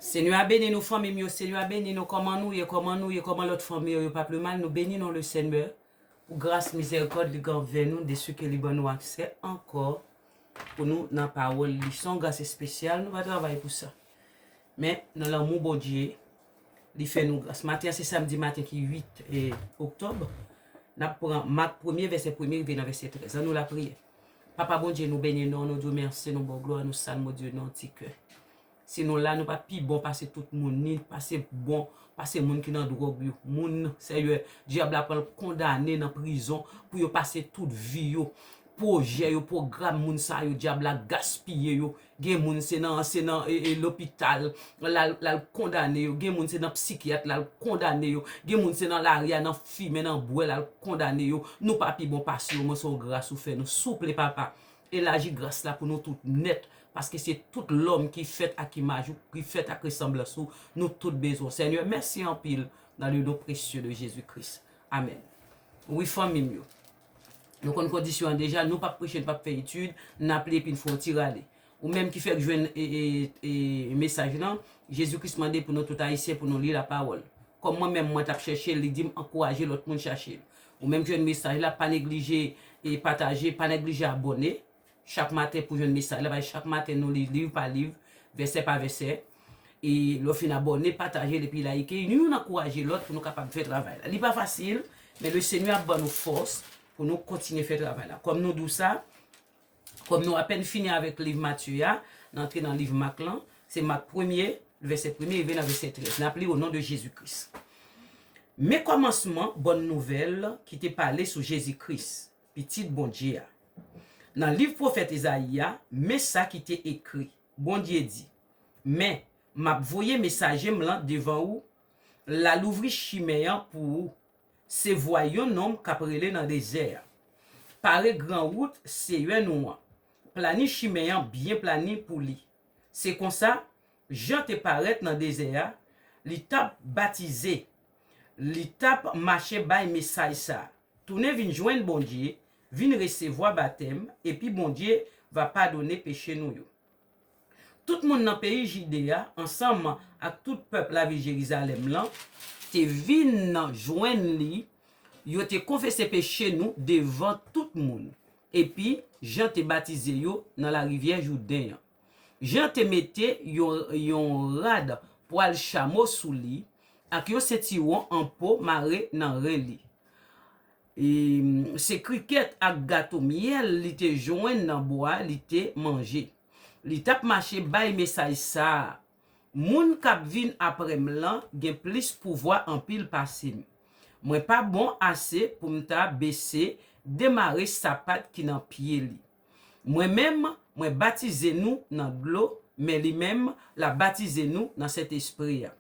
Senyè a beni nou fanmim yo senyè a beni nou kòman nou ye kòman nou ye kòman lòt fanmi yo yo pa pli mal nou beni non le senyè pou gras mizèrikòd li gen anvè nou desi ke li ban nou aksè ankò pou nou nan pawòl li son gras espesyal nou pa travay pou sa men nan lanmou Bondye li fè nou gras maten an se samdi maten ki 8 oktòb nap pran mak premye vèsè premye rive nan vèsè 13 an nou lapriyè. Papa Bondye nou beni non nou diw merci nou baw glwa nou salm Bondye non ti kè si nou la nou pa pi bon pase tout moun ni pase bon pase moun ki nan dròg yo moun sèyè dyab la pranl kondane nan prizon pou yo pase tout vi yo projè yo program moun sa yo dyab la gaspiye yo Gen moun se nan se nan lopital lal kondane yo, gen moun se nan psikyat lal kondane yo, gen moun se nan lari a nan fimen nan bwè lal kondane yo, nou pa pi bon pase yo mwen se yon gras ou fè nou souple papa elaji gras la pou nou tout nèt paske se tout lòm ki fèt ak imaj ou ki fèt ak resanblans ou nou tout bezwen w senyè mèsi anpil nan le non presye de jezi kris amen wi fanmim yo. Nou konn kondisyon an deja, nou pap preche, nou pap fè etid, nap li epi n fè yon ti rale. Ou menm ki fèk jwenn mesaj lan, Jezi Kris mande pou nou tout Ayisyen pou nou li lapawòl. Kòm mwen menm mwen tap chèche l, li di m ankouraje lòt moun chache l. Ou menm ki jwenn mesaj la, pa neglije pataje, pa neglije abòne. chak maten pou jwenn mesaj la, paske chak maten nou li liv pa liv, vèsè pa vèsè. E lè w fin abòne, pataje l epi layike. Youn ankouraje lòt pou nou kapab fè travay la. Li pa fasil, men Lesenyè ap ban nou fòs pou nou kontinye fè travay la. Kòm nou di w sa, kòm nou apèn fini avèk liv Matye a, n antre nan liv Mak lan. Se Mak premye, vèsè premye rive nan vèsè trèz. N ap li onon de Jezi Kris. Men kòmansman bòn nouvèl ki te pale sou Jezi Kris. Pitit Bondye a. Nan liv pwofèt Ezayi a, men sa ki te ekri, Bondye di, Men, m ap voye mesaje m lan devan ou, l al ouvri chimen an pou ou. Se vwa yon nonm k ap rele nan dezè a, Pare gran wout Seyè nou an, plani chimen an byen plani pou li. Se konsa, Jan te parèt nan dezè a, li t ap batize, li t ap mache bay mesaj sa a, Tounen vin jwenn Bondye, vin resevwa batèm, epi Bondye va padone peche nou yo. Tout moun nan peyi Jide a, ansanm ak tout pèp lavil Jerizalèm lan, te vin jwenn li, yo te konfese peche nou devan tout moun, epi Jan te batize yo nan larivyè Jouden an. Jan te mete yon rad pwal chamo sou li, ak yon sentiwon an po mare nan ren li. E, se krikèt ak gato myèl li te jwenn nan bwa li te manje. Li t ap mache bay mesaj sa a, Moun k ap vin apre m lan gen plis pouvwa anpil pase m. Mwen pa bon ase pou m ta bese demare sapat ki nan pye li. Mwen menm, mwen batize nou nan dlo, men li menm, l ap batize nou nan Sentespri a.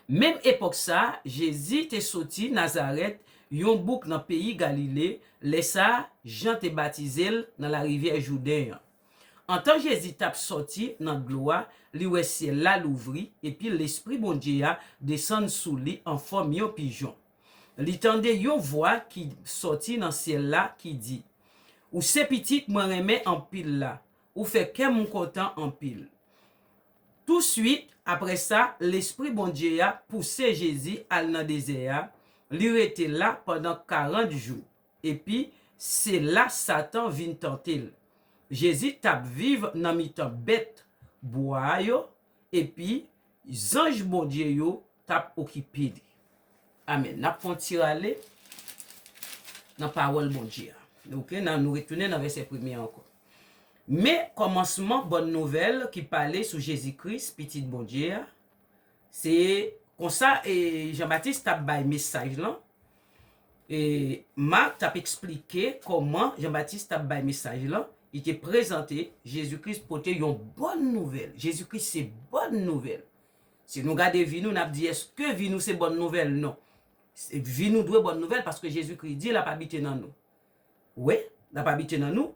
Menm epòk sa a, Jezi te soti Nazarèt, yon bouk nan peyi Galile, lè sa a, Jan te batize l nan larivyè Jouden an. Antan Jezi t ap sòti nan dlo a, li wè syèl la louvri, epi Lespri Bondye a desann sou li anfòm yon pijon. Li tande yon vwa ki sòti nan syèl la ki di, Ou se Pitit mwen renmen anpil la, ou fè kè m kontan anpil. Tousuit apre sa, Lespri Bondye a pouse Jezi al nan dezè a, li rete la pandan karant jou, epi se la Satan vin tante l. Jezi t ap viv nan mitan bèt bwa yo epi zanj Bondye yo t ap okipe li. Amen. N ap fè yon ti rale nan Pawòl Bondye a. Ok, nou retounen nan vèsè premye a ankò. Men, kòmansman bòn nouvèl ki pale sou Jezi Kris, Pitit Bondye a, se konsa Janbatis t ap bay mesaj lan, Mak t ap esplike kòman Jan Batis t ap bay mesaj lan, li te prezante Jezi Kris pote yon bòn nouvèl. Jezi Kris se bòn nouvèl. Si nou gade vi nou, n ap di, èske vi nou se bòn nouvèl? Non. Vi nou dwe bòn nouvèl paske Jezi Kris di l ap abite nan nou. Wi, l ap abite nan nou.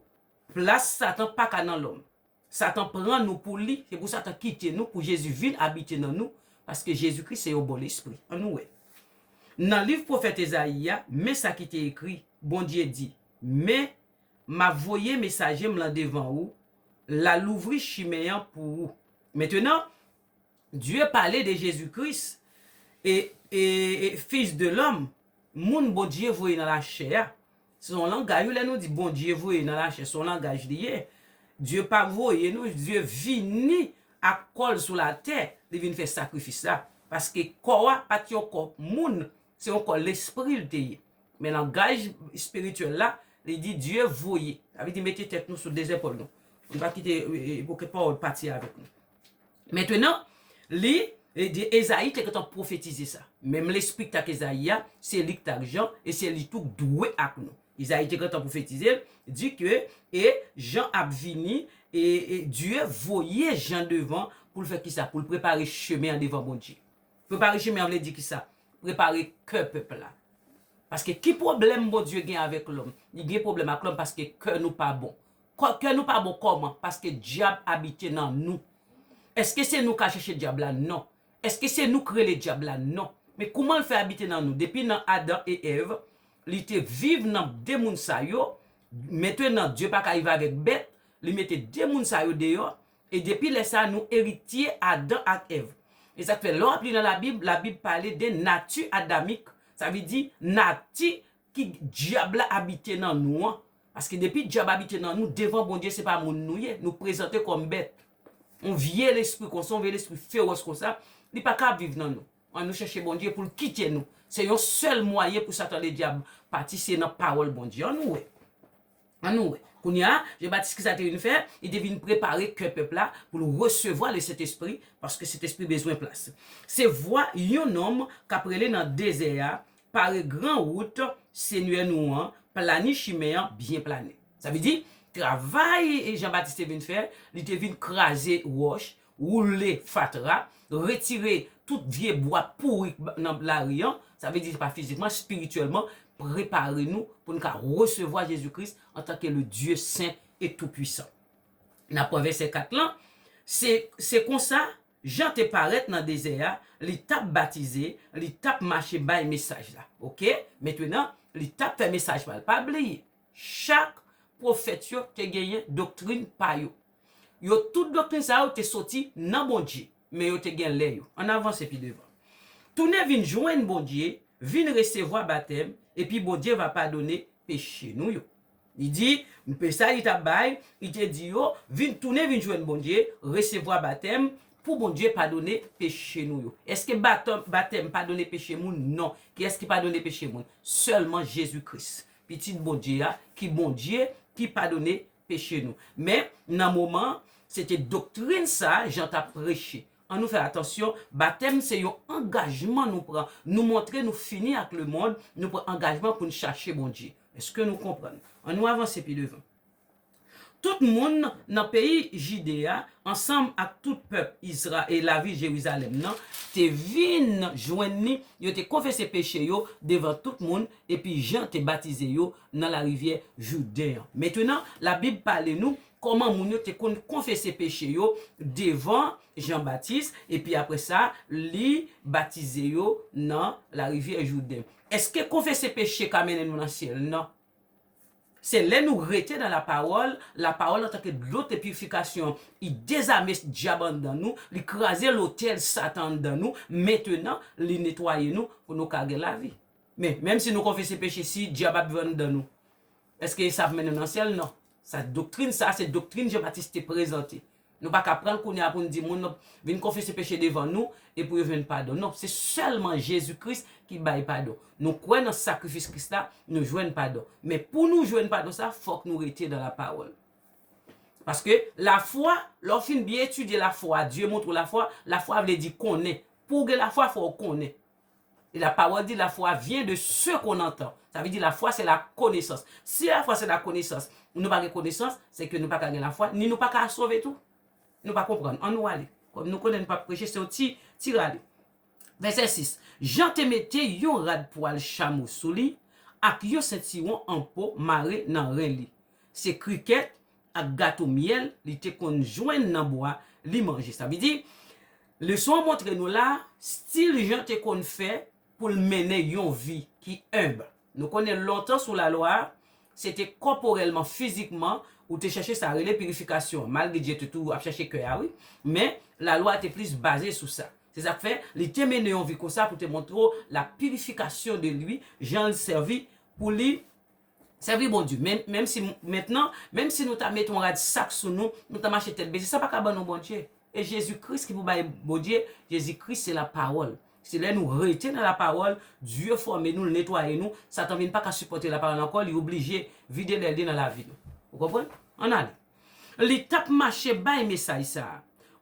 Plas Satan pa ka nan lòm. Satan pran nou pou li, se pou Satan kite nou, pou Jezi vin abite nan nou, paske Jezi Kris se yon bon lespri. An nou wè. Nan liv pwofèt Ezayi a, men sa ki te ekri, Bondye di, Men, m ap voye mesaje m lan devan ou, l a louvri chimen an pou ou. Mentenan, Dieu pale de Jezi Kris, e, e, e, Fils de l'homme, Moun Bondye voye nan lachè a. Se yon langay wi lè nou di Bondye voye nan lachè se yon langaj li ye. Dieu pa voye nou, Dieu vini ak kò l sou latè, li vin fè sakrifis la. Paske kò a pa t yon kò moun, se yon kò lespri l te ye. Men langaj espirityèl la, li di Dieu voye. Sa vle di mete tèt nou sou de zèpòl nou. Nou pa kite e, e, e, pou ke pawòl pati avèk nou. Mentenan, li, Ede, Ezayi te gentan pwofetize sa. Menm Lespri k t ak Ezayi a, se li k t ak Jan, e se li tou k dwe ak nou. Ezayi te gentan pwofetize l, di ke, E, Jan ap vini, e, e, Dye voye Jan devan, pou l fè ki sa? Pou l prepare chemen an devan Bondye. Prepare chemen an vle di ki sa? Prepare kè pèp la. Paske ki pwoblèm Bondye gen avèk lòm? Li gen pwoblèm ak lòm paske kè nou pa bon. Kè nou pa bon kòman? Paske dyab abite nan nou. Eske se nou ka chèche dyab la? Non. Eske se nou k rele dyab la? Non. Men kouman l fè abite nan nou? Depi nan Adan e Èv, li te viv nan de moun sa yo, mentenan Dye pa ka viv avèk bèt, li mete de moun sa yo deyò, e depi lè sa nou eritye Adan ak Èv. E sa k fè lè w ap li nan Labib, Labib pale de nati adamik, sa vle di nati Ki dyab la abite nan nou an? Paske depi dyab abite nan nou, devan Bondye se pa moun nou ye, nou prezante kòm bèt. Yon vye lespri konsa, yon vye lespri fewòs konsa, li pa ka ap viv nan nou. An nou chèche Bondye pou l kite nou. Se yon sèl mwayen pou Satan Ledyab pati, se nan pawòl Bondye. An nou wè. An nou wè. Kounye a, Jan Batis ki sa l te vin fè? Li te vin prepare kè pèp la pou l resevwa Lesentespri, paske Sentespri bezwen plas. Se vwa yon nonm k ap rele nan dezè a, Pare gran wout Senyè nou an, plani chimen an, byen plani. Sa vle di, travay Jan Batis te vin fè, li te vin kraze wòch woule fatra, retire tout vye bwa pouri k nan lari an, sa vle di se pa fizikman, spirityèlman, prepare nou pou n ka resevwa Jezi Kris antanke le Dye sen e tou pwisan. N ap pran vèsè 4 lan, Se, se konsa, Jan te parèt nan dezè a, li t ap batize, li t ap mache bay mesaj la. Oke? Mentwenan, li t ap fè mesaj pa l. Pa bliye, chak pwofèt yo te genyen doktrin pa yo. Yo tout doktrin sa yo te soti nan Bondye, men yo te gen lè yo. Ann avanse pi devan. Tounen vin jwenn Bondye, vin resevwa batèm, epi Bondye va padone peche nou yo. Li di, mpe sa li ta bay, li te di yo, vin tounen vin jwenn Bondye, resevwa batèm, pou Bondye padone peche nou yo. Eske batèm batèm padone peche moun? Non. Kiyès ki padone peche moun? Sèlman Jezi Kris, Pitit Bondye a, ki Bondye, ki padone peche nou. Men, nan moman an, se te doktrin sa a Jan t ap preche. Annou fè atansyon, batèm se yon angajman nou pran. Nou montre nou fini ak lemonn, nou pran angajman pou n chache Bondye. Èske nou konprann? Annou avanse pi devan. Tout moun nan peyi Jide a, ansanm ak tout pèp Izra e lavil Jerizalèm nan, te vin jwenn li, yo te konfese peche yo devan tout moun, epi Jan te batize yo nan larivyè Jouden an. Mentenan, Labib pale nou kòman moun yo te konn konfese peche yo devan Jan Batis, epi apre sa, li batize yo nan larivyè Jouden. Èske konfese peche ka mennen nou nan syèl? Non. Se lè nou rete nan lapawòl, lapawòl antanke dlo te pirifikasyon, li dezame dyab anndan nou, li kraze lotèl satan anndan nou, mentenan, li netwaye nou pou nou ka gen lavi. Men, menm si nou konfese peche si dyab ap viv anndan nou, èske sa ap mennen nan syèl? Non. Sa doktrin sa a se doktrin Jan Batis te prezante. Nou pa ka pran l kounye a pou n di moun vin konfese peche devan nou e pou yo jwenn padon. Non, se sèlman Jezi Kris ki bay padon. Nou kwè nan sakrifis Kris la, nou jwenn padon. Men, pou nou jwenn padon sa a, fòk nou rete nan lapawòl. Paske, lafwa, lè w fin byen etidye lafwa, Dye montre w lafwa, lafwa vle di konnen. Pou w gen lafwa, fò w konnen. E la pawòl di la fwa vyen de se kon antan. Sa vle di la fwa se la konesans. Si la fwa se la konesans, nou pa gen konesans, se ke nou pa ka gen la fwa, ni nou pa ka sove tou. Nou pa konprann. An nou ale. Kòm nou konnen nou pa p preche, se yon ti, ti rale. Vèsè 6, Jan te mete yon rad pwal chamo sou li, ak yon sentiwon an po mare nan ren li. Se krikèt, ak gato myèl li te konn jwenn nan bwa li manje. Sa vle di, leson an montre nou la, stil Jan te konn fè pou l mennen yon vi ki enb. Nou konnen lontan sou Lalwa, se te kòporèlman, fizikman, ou te chèche sa rele pirifikasyon an, malgre Dye te tou ap chèche kè a wi, men Lalwa a te plis baze sou sa. Se sa k fè, li te mennen yon vi konsa pou te montre w la pirifikasyon de li, jan l sèvi pou li. Sèvi Bondye. Men, menmsi, mentnan, menmsi nou ta mete yon rad sak sou nou, nou ta mache tèt bese, sa pa ka ban nou Bondye. E Jezi Kris ki pou bay Bondye, Jezi Kris se Lapawòl. Se lè nou rete nan Lapawòl, Dye fòme nou, l netwaye nou, Satan vin pa ka sipòte Lapawòl ankò, li oblije vide lèl li nan lavi nou. Ou konprann? Ann ale. Li t ap mache bay mesaj sa a,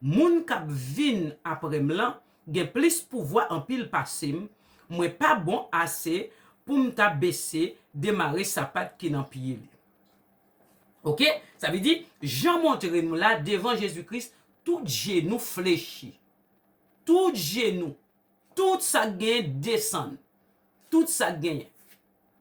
Moun k ap vin apre m lan, gen plis pouvwa anpil pase m, mwen pa bon ase pou m ta bese demare sapat ki nan pye li. Ok, sa vle di, Jan montre nou la, devan Jezi Kris, tout jenou flechi. Tout jenou, tout sa k genyen desann. Tout sa k genyen.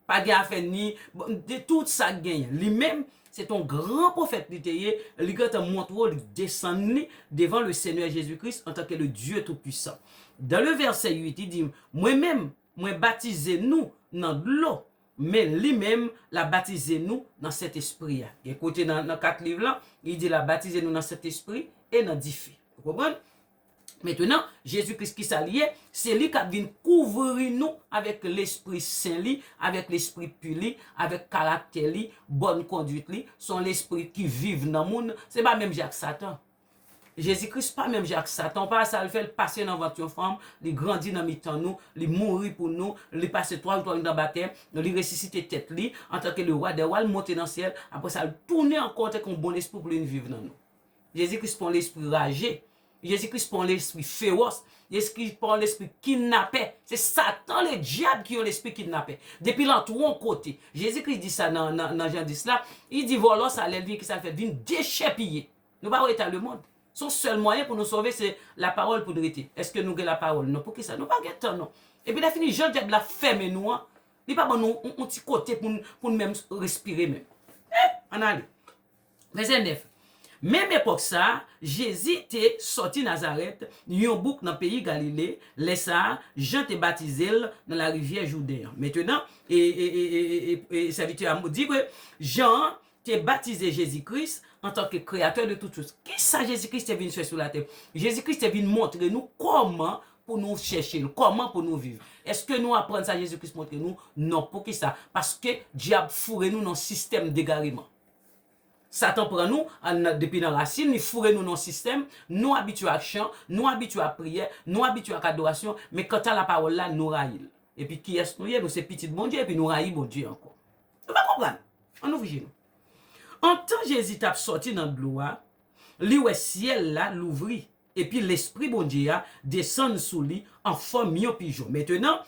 Pa gen afè ni, bon, de tout sa k genyen. Li menm, se t on gran pwofèt li te ye, li gentan montre w li desann li devan le Senyè Jezi Kris antanke le Dye Toupuisan. Dan le vèsè 8, li di, Mwen menm, mwen batize nou nan dlo, men li menm, l a batize nou nan Sentespri a. Gen kote nan, nan kat liv lan, li di l a batize nou nan Sentespri e nan dife. Ou konprann? Mentnan, Jezi Kris ki sa li ye? Se li k'ap vin kouvri nou avèk Lespri Sen li, avèk Lespri pu li, avèk karaktè li, bòn konduit li, se yon Lespri ki viv nan moun, se pa menm jan ak Satan. Jezi Kris pa menm jan ak Satan, ou pa wè sa l fè, l pase nan vant yon fanm, li grandi nan mitan nou, li mouri pou nou, li pase 3 jou 3 nuit nan batèm, li resisite tèt li, antanke le Wa dè Wa, l monte nan syèl, apre sa l tounen ankò antanke yon bon Lespri pou l vin viv nan nou. Jezi Kris pa yon lespri raje. Jezi Kris pa yon lespri fewòs. Jezi Kris pa yon lespri kidnapè. Se Satan Ledyab ki yon lespri kidnapè. Depi l antre yon kote, Jezi Kris di sa nan Jan 10 la, li di vòlò sa a lè l vini ki sa l fè? Vin dechèpiye. Nou pa wè eta lemonn. Se yon sèl mwayen pou nou sove se lapawòl pou n rete. Èske nou gen lapawòl? Non. Poukisa? Nou pa gen tan non. Epi lè fini jan Dyab la fèmen nou an, li pa ban nou yon ti kote pou n menm respire menm. An ale. Vèsè 9, Menm epòk sa a, Jezi te sòti Nazarèt, yon bouk nan peyi Galile, lè sa a, Jan te batize l nan larivyè Jouden an. Mentenan, e, e, e, e, e, e, e, sèvitè a di ke Jan an te batize Jezi Kris antanke Kreyatè de tout chòz. Kisa Jezi Kris te vin fè sou latè? Jezi Kris te vin montre nou kòman pou nou chèche l, kòman pou nou viv. Èske nou aprann sa Jezi Kris montre nou? Non. Poukisa? Paske dyab foure nou nan yon sistèm degareman. Satan pran nou depi nan rasin, li foure nou nan yon sistèm, nou abitye ak chan, nou abitye ak priyè, nou abitye ak adorasyon, men kanta lapawòl la, nou rayi l. Epi kiyès nou ye? Nou se pitit Bondye epi nou rayi Bondye ankò. Nou pa konprann? Ann ouvri je nou. Antan Jezi t ap sòti nan dlo a, li wè syèl la louvri, epi Lespri Bondye a desann sou li an fòm yon pijon. Mentenan,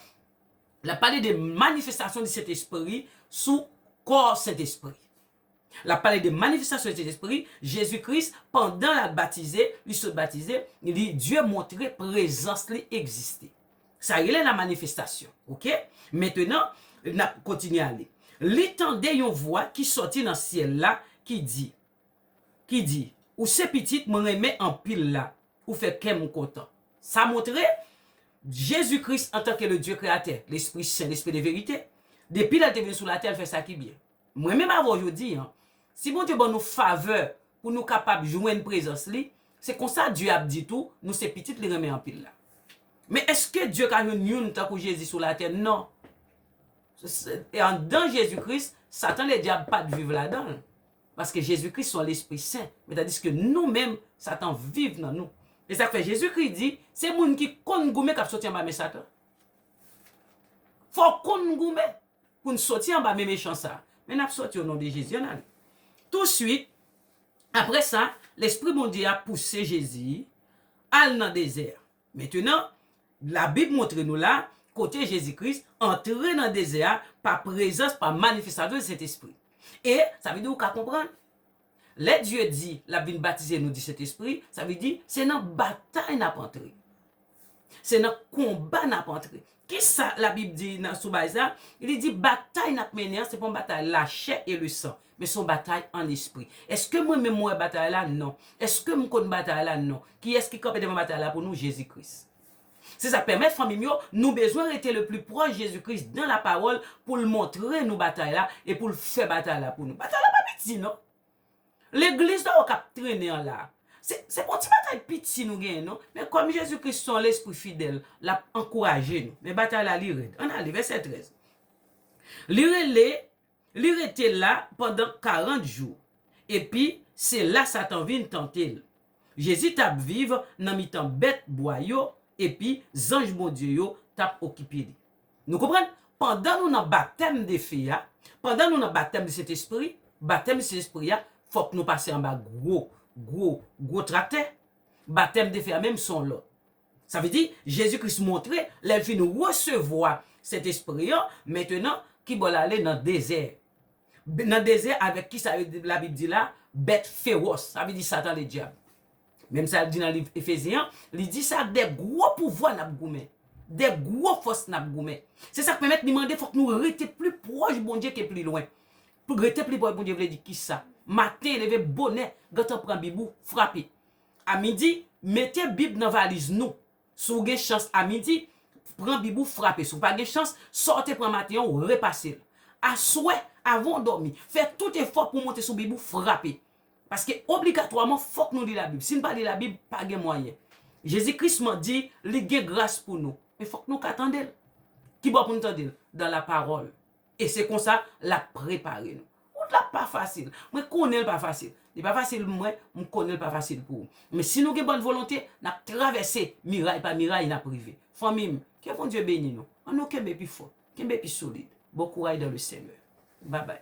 L ap pale de manifestasyon di Sentespri sou kò Sentespri. L ap pale de manifestasyon di Sentespri, Jezi Kris, pandan l al batize, li sot batize, li, Dye montre prezans li egziste. Sa rele la manifestasyon. Oke? Mentenan, n ap kontinye ale. Li tande yon vwa ki sòti nan syèl la ki di. ki di, Ou se Pitit mwen renmen anpil la, ou fè kè m kontan. Sa montre, Jezi Kris antanke Ledye Kreyatè, Lespri Sen, Lespri de verite, depi lè l te vin sou latè, l fè sa ki byen. Mwen menm avè w jodi an, si Bondye ban nou favè pou nou kapab jwenn prezans li, se konsa Dye ap di tou, nou se Pitit li renmen anpil la. Men èske Dye ka jwenn youn tankou Jezi sou latè? Non. E anndan Jezi Kris, Satan Ledyab pa t viv ladan l. paske Jezi Kris son lespri sen, men tandiske nou menm satan viv nan nou. E sak fè Jezi Kris di se moun ki konn goumen kap soti anba men satan. Fò konn goumen poun soti anba men mechan sa. Men nap soti o non de Jezi ann ale. Tousuit aprè sa lespri Bondye a pouse Jezi al nan dezè a. Mentenan, Labib montre nou la kote Jezi Kris antre nan dezè a pa prezans, pa manifestasyon Sentespri. E, sa vle di ou ka konprann, lè Dye di l ap vin batize nou di Sentespri, sa vle di se nan batay n ap antre. Se nan konba n ap antre. Ki sa Labib di nan sou bay sa? Li di batay n ap mennen an se pa yon batay lachè e lesan, men se yon batay ann lespri. Èske mwen menm mwen wè batay la? Non. Èske m konn batay la? Non. Kiyès ki kanpe devan batay la pou nou? Jezi Kris. Se sa k pèmèt, fanmi m yo, nou bezwen rete lepli pwòch Jezi Kris dan Lapawòl pou l montre nou batay la e pou l fè batay la pou nou. Batay la pa piti non! Legliz la ou kap trennen an la. Se se pa yon ti bagay piti nou genyen non. Men kòm Jezi Kris se yon lespri fidèl, l ap ankouraje nou. Men batay la li rèd. Ann ale vèsè 13. Li rele, li rete la pandan karant jou. Epi, se la Satan vin tante l. Jezi t ap viv nan mitan bèt bwa yo, epi zanj Bondye yo t ap okipe li. Nou konprann? Pandan nou nan batèm defe a, pandan nou nan batèm Sentespri, batèm Sentespri a, fòk nou pase anba gwo, gwo, gwo traktè. Batèm defe a menm son lòt. Sa vle di, Jezi Kris montre, lè l fin resevwa Sentespri an, mentenan, ki bò l ale? Nan dezè. Nan dezè avèk kisa yo, Labib di la, bèt fewòs, sa vle di Satan Ledyab. Menm sa l di nan liv Efezyen an, li di se ak de gwo pouvwa n ap goumen, de gwo fòs n ap goumen. Se sa k pèmèt li mande fòk nou rete pli pwòch Bondye ke pli lwen. Rete pli pwòch Bondye vle di ki sa? Maten, leve bonè, gentan pran Bib ou, frape. A midi, mete Bib nan valiz nou. Si w gen chans a midi, pran Bib ou, frape. Si w pa gen chans, sa w te pran maten an, w repase l. Aswè, avan w dòmi, fè tout efò pou w monte sou Bib ou, frape. Paske obligatwaman fòk nou li labib si n pa li labib pa gen mwayen Jezi Kris man di li gen gras pou nou men fòk nou ka tande l ki bò pou n tande l dan la pawòl e se konsa l ap prepare nou wout la pa fasil mwen konnen l pa fasil li pa fasil pou mwen m konnen l pa fasil pou ou men si nou gen bòn volonte n ap travèse miray pa miray n ap rive fanmi m ke Bondye beni nou an nou kenbe pi fò. Kenbe pi solid. Bon kouray dans le Seigneur. Babay.